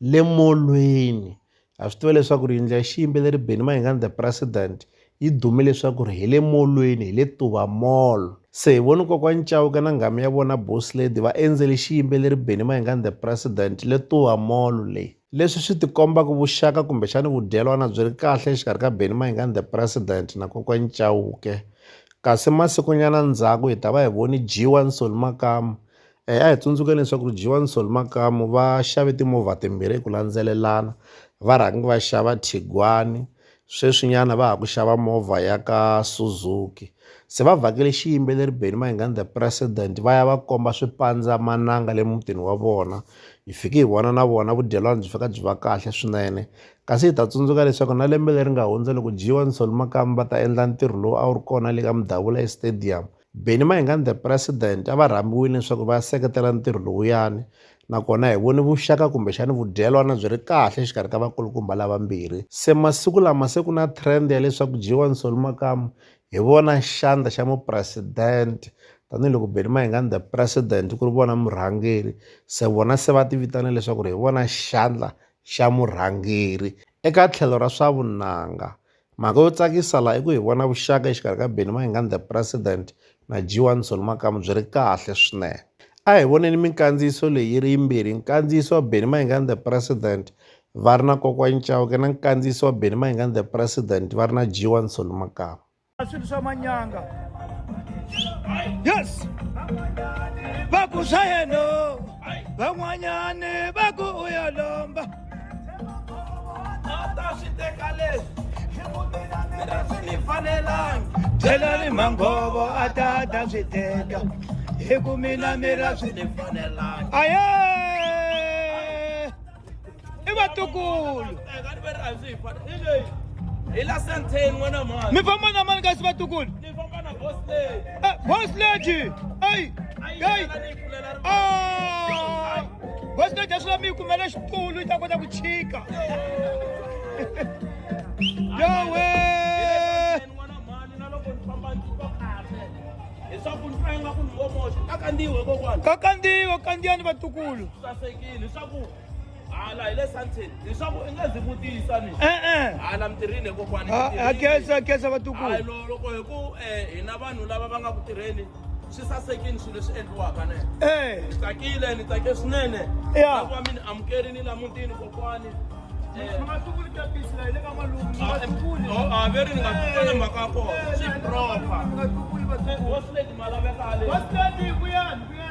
le molweni ha swi tiva leswaku ri yindlu ya xiyimbeleri Benny Mayengani the president yi dume leswaku ri hi le molweni hi le Tuva mall se hi voni kokwani Chauke na nghamu ya vona boss lady va endzele xiyimbeleri Benny Mayengani the president le Tuva mall leyi leswi swi tikomba ku vuxaka kumbexani vudyelwana byi ri kahle exikarhi ka Benny Mayengani the president na kokwani Chauke kasi masikunyana ndzhaku hi ta va hi voni G1 Solly Makamu A hi tsundzuki leswaku Johan Sol Makamu va xave timovha timbirhi hi ku landzelelana va rhangi va xava Tiguan-i sweswinyana va ha ku xava movha ya ka Suzuki se va vhakele xiyimbeleri Benny Mayengani the president va ya va komba swipandzamananga le mutini wa vona hi fike hi vona na vona vudyelwani byi fika byi va kahle swinene kasi hi ta tsundzuka leswaku na lembe leri nga hundza loko Johan Sol Makamu va ta endla ntirho lowu a wu ri kona le ka Mdavula e stadium Benny Mayengani the President a va rhambiwile leswaku va seketela ntirho lowuyani nakona hi vone vuxaka kumbexani vudyelwana byi ri kahle exikarhi ka vakulukumba lavambirhi se masiku lama se ku na trend ya leswaku Jiwa Nsoli Makamu hi vona xandla xa mupresidente tanihiloko Benny Mayengani the President ku ri vona murhangeri se vona se va tivitana leswaku ri hi vona xandla xa murhangeri eka tlhelo ra swa vunanga Mhaka yo tsakisa laha i ku hi vona vuxaka exikarhi ka Benny Mayengani the President na G1 Zulu Makamu byi ri kahle swinene. A hi voneni minkandziyiso leyi yi ri yimbirhi, nkandziyiso wa Benny Mayengani the President va ri na Kokwani Chauke na nkandziyiso wa Benny Mayengani the President va ri na G1 Zulu Makamu. swilo swa manyanga yes va ku swa yena van'wanyani va ku u ya lomba Thelani manghovo a ta ta swi teka hi ku mina mi ra swi ni fanelanga aye i vatukulu mi famba na mani kasi vatukulu eh, boss lady ei ei Ah! bosi to dya swila mi yi kumele xitulu yi ta kota ku chika yowe leswaku ni fanga ku ni ngomoxa ka kandziwa kokwana ka kandziwa kandziyani vatukulu sasekile leswaku hala hi le santin leswaku i nga ndzi vutisa ni e-e hala mitirhini kokwani ha khensa khensa vatukulu hayi loko hi ku eh, hina vanhu lava va nga ku tirheni swi sasekile swilo leswi endliwaka ne eh. ni tsakile ni tsake swinene lava mi ni amukerini la mutini kokwani eh. ah, veri ni nga tukuli mhaka kona swi propa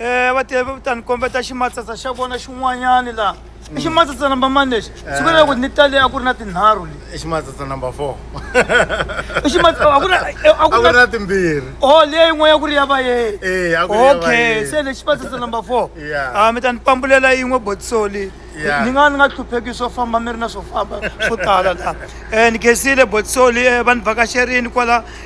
Eh, va te va ta ni kombeta ximatsatsa xa vona xin'wanyani laha i ximatsatsa number mani lexi swi vula loko ni tale a ku ri na tinharhu leti i ximatsatsa number four i ximatsatsa a ku ri na- eh, a a ku ku ri ri na na timbirhi oh leyi yin'wana ku ri ya vayeni Eh, a ku ri ya okay vayeni. se lexi ximatsatsa number four Yeah. ah mi ta ni pambulela yin'we botisoli Yeah. ni nga ni nga hlupheki swo famba mi ri na swo famba swo tala laha um ni gezile botisoli um va ni vhakaxerini kwala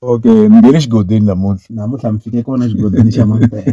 okay ni nge le xigodini namuntlha namuntlha mi fike kona xigodini xa mampela